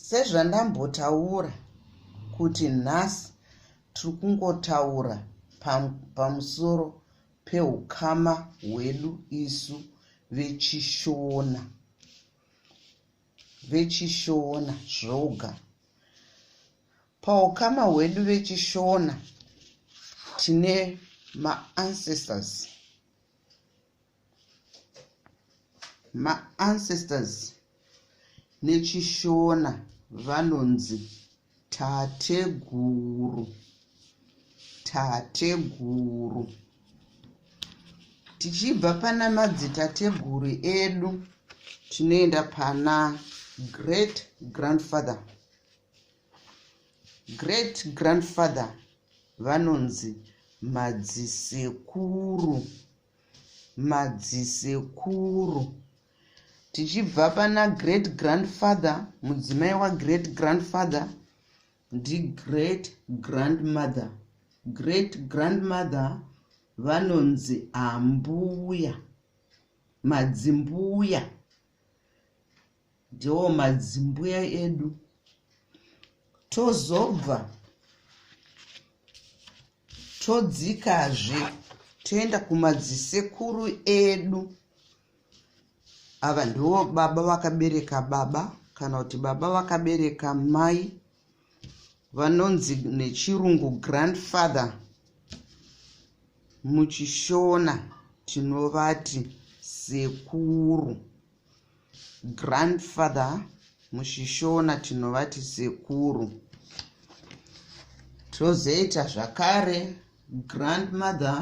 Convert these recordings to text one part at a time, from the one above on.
sezvandambotaura kuti nhasi tiri kungotaura pamusoro peukama hwedu isu vechishona vechishona zvoga paukama hwedu vechishona tine maancestors maancestors nechishona vanonzi Tateguru. Tateguru. Tichibva pana madzitateguru edu tinoenda pana great grandfather. Great grandfather vanonzi madzisekuru. madzisekuru tichibva pana great grandfather mudzimai wagreat grandfather ndigreat grandmother great grandmother vanonzi ambuya madzimbuya ndiwo madzimbuya edu tozobva todzikazve toenda kumadzisekuru edu ava ndiwo baba vakabereka baba kana kuti baba vakabereka mai vanonzi nechirungu grandfather muchishona tinovati sekuru grandfather muchishona tinovati sekuru tozoita zvakare grandmother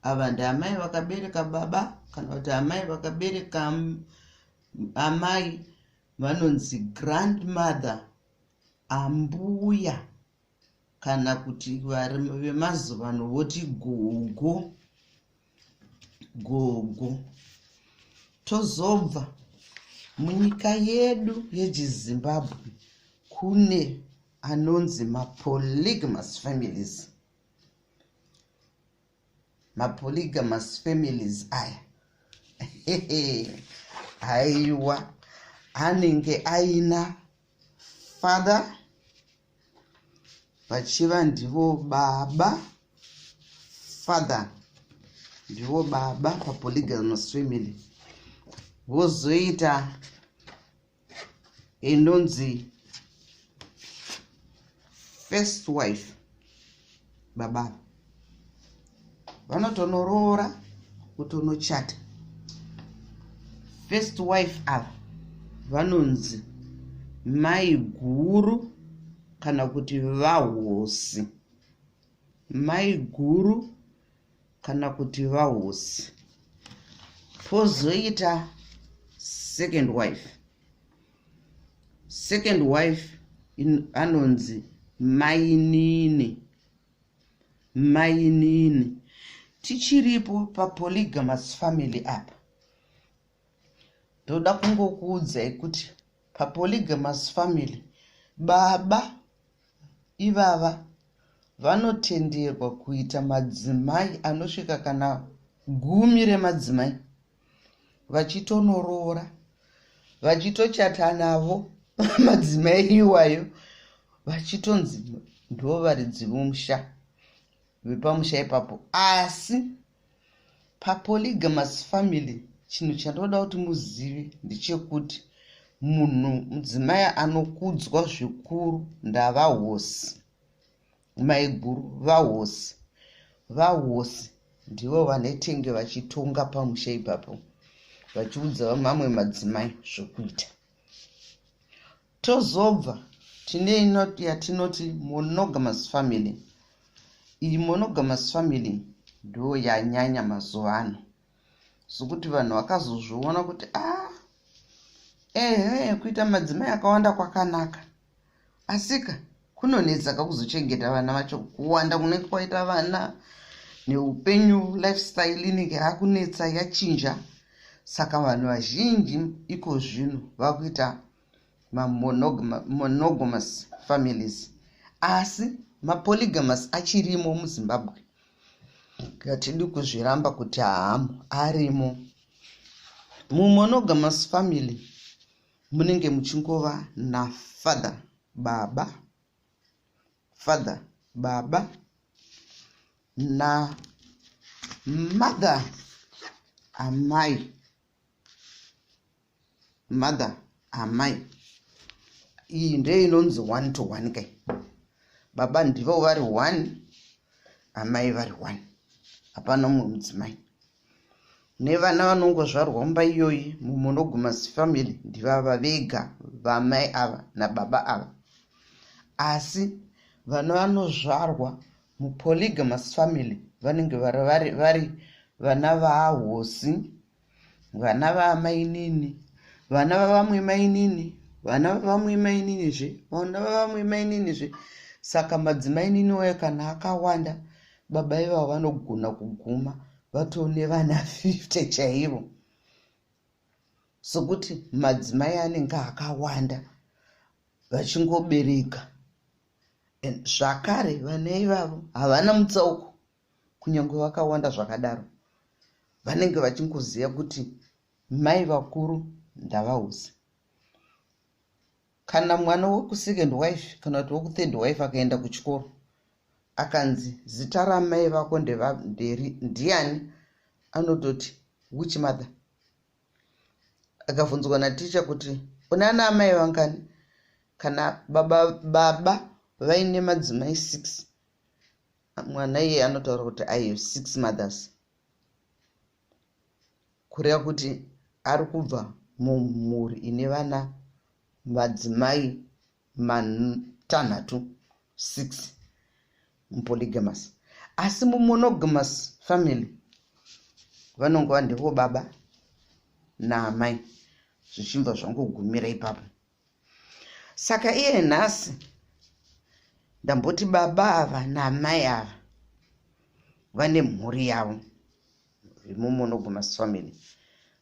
ava ndiamai vakabereka baba kana kuti amai vakabereka amai vanonzi grandmother ambuya kana kuti vari vemazuva ano voti gogo gogo tozobva munyika yedu yechizimbabwe kune anonzi mapolygamous families mapolygamous families aya haiwa anenge aina father vachiva ndivo baba father ndivo baba papolygamous family vozoita inonzi first wife baba vanotonoroora kutonochata first wife ava vanonzi maiguru kana kuti vahosi maiguru kana kuti vahosi pozoita second wife second wife anonzi mainini mainini tichiripo papolygamous family apa ndoda kungokuudzai kuti papolygamous family baba ivava vanotenderwa kuita madzimai anosvika kana gumi remadzimai vachitonoroora vachitochata navo madzimai iwayo vachitonzi ndovaridzivomusha vepamusha ipapo asi papolygamous family chinhu chandoda kuti muzive ndechekuti munhu mudzimai anokudzwa zvikuru ndavahosi maiguru vahosi vahosi ndivo vanetenge vachitonga pamusha ipapo vachiudza vamamwe madzimai zvokuita Tozobva tine inoti yatinoti monogamous family. Iyi monogamous family ndo yanyanya mazuva ano zvokuti vanhu vakazozviona kuti a ah, ehe kuita madzimai akawanda kwakanaka asika kunonetsaka kuzochengeta vana vacho kuwanda kunenge kwaita vana neupenyu lifestyle inenge yakunetsa yachinja saka vanhu vazhinji iko zvino vakuita mamonogamous families asi mapolygamous achirimo muzimbabwe hatidi kuzviramba kuti haamu arimo mumonogamous family munenge muchingova nafather baba father baba namother amai mother amai iyi ndiyo inonzi one to one kai baba ndivo vari one amai vari one hapana umwe mudzimai nevana vanongozvarwa mumba iyoyi mumonoguma zifamily ndivava vega vamai ava nababa ava asi vana vanozvarwa mupolygamous family vanenge vari vari vari vana vahosi vana vamainini vana vavamwe mainini vana vavamwe mainini zve vana vavamwe mainini zve saka madzimainini wayo kana akawanda baba ivavo vanogona kuguma vatone vana 50 chaivo sokuti madzimai anenge akawanda vachingobereka zvakare vana ivavo havana mutsauko kunyange vakawanda zvakadaro vanenge vachingoziva kuti mai vakuru ndavausi kana mwana wekusecond wife kana kuti wekuthird wife akaenda kuchikoro akanzi zita ramai vako ndevanderi ndiani anototi which mother akavhunzwa naticha kuti une ana amai vangani kana baba baba vaine madzimai six mwana iye anotaura kuti i have six mothers kureva kuti ari kubva mumhuri ine vana madzimai matanhatu 6 mupolygamous asi mumonogamous family vanongova ndivo baba naamai zvichibva zvangogumira ipapo saka iye nhasi ndamboti baba ava naamai ava vane mhuri yavo remumonogamous family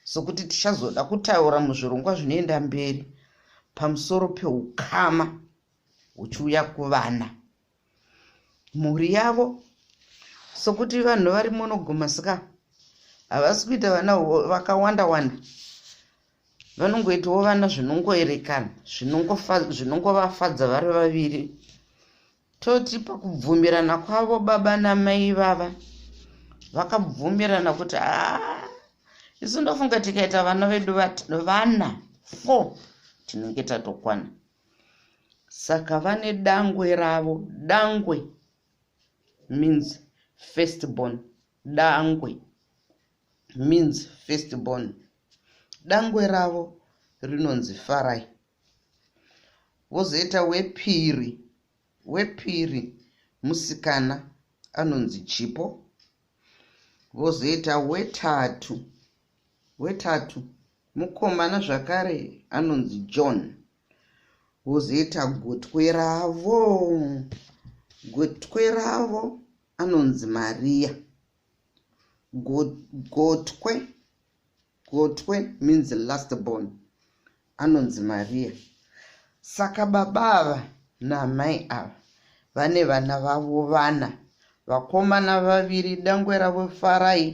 sokuti tichazoda kutaura muzvirongwa zvinoenda mberi pamusoro peukama huchiuya kuvana mhuri yavo sokuti vanhu vari monogamous ka havasi kuita vana vakawanda wanda vanongoitawo vana zvinongoerekana zvinongovafadza vari vaviri Toti pakubvumirana kwavo baba namai vava vakabvumirana kuti haa isu ndofunga tikaita vana vedu vana four tinenge tatokwana saka vane dangwe ravo dangwe means first born dangwe means first born dangwe ravo rinonzi farai vozoita wepiri wepiri musikana anonzi chipo vozoita wetatu wetatu mukomana zvakare anonzi john vozoita gotwe ravo gotwe ravo anonzi mariya gotwe go, Gotwe means last born. Anonzi Maria. Saka baba ava naamai ava vane vana vavo vana vakomana vaviri dangwe ravo Farai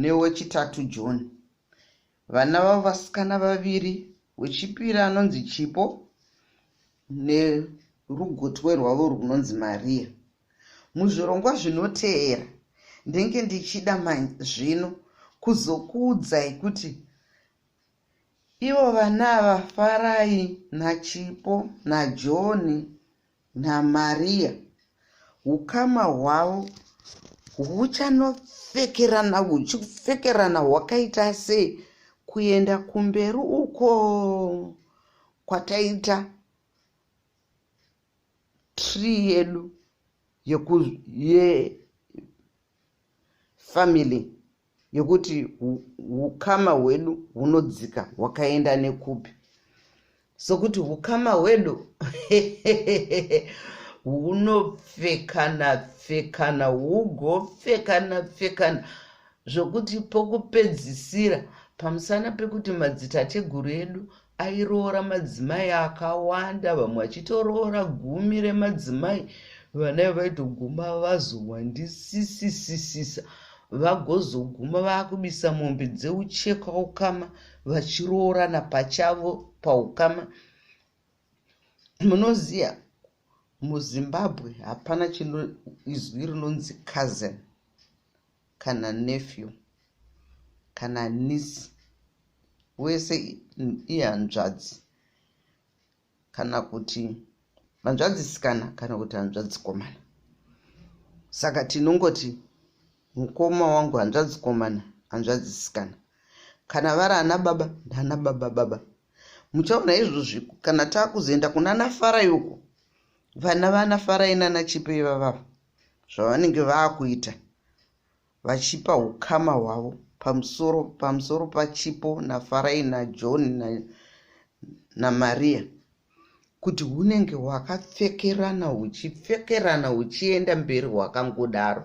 newechitatu John. Vana vavo vasikana vaviri wechipiri anonzi Chipo nerugotwe rwavo rwunonzi Maria. Muzvirongwa zvinoteera ndenge ndichida manje zvino kuzokuudzai kuti ivo vana ava farai nachipo najoni namariya ukama hwavo huchanopfekerana huchipfekerana hwakaita sei kuenda kumberi uko kwataita tree yedu yeku ye family yekuti hukama hwedu hunodzika hwakaenda nekupi sokuti hukama hwedu hunopfekana pfekana hugopfekana pfekana zvokuti pokupedzisira pamusana pekuti madzitateguru edu airoora madzimai akawanda vamwe vachitoroora gumi remadzimai vana vaitoguma vazowandisisisisisa vagozoguma vakubisa mombe dzeucheka ukama vachiroorana pachavo paukama munoziva muzimbabwe hapana chino izwi rinonzi cousin kana nephew kana niece wese ihanzvadzi kana kuti hanzvadzisikana kana kuti hanzvadzikomana saka tinongoti mukoma wangu hanzvadzikomana hanzvadzisikana kana vari ana baba ndana baba baba muchaona izvozvi kana taakuzoenda kuna nafarai uko vana vana farai nana chipo ivavavo zvavanenge vakuita vachipa ukama hwavo pamusoro pamusoro pachipo nafarai najohn namaria na kuti hunenge hwakapfekerana huchipfekerana huchienda mberi hwakangodaro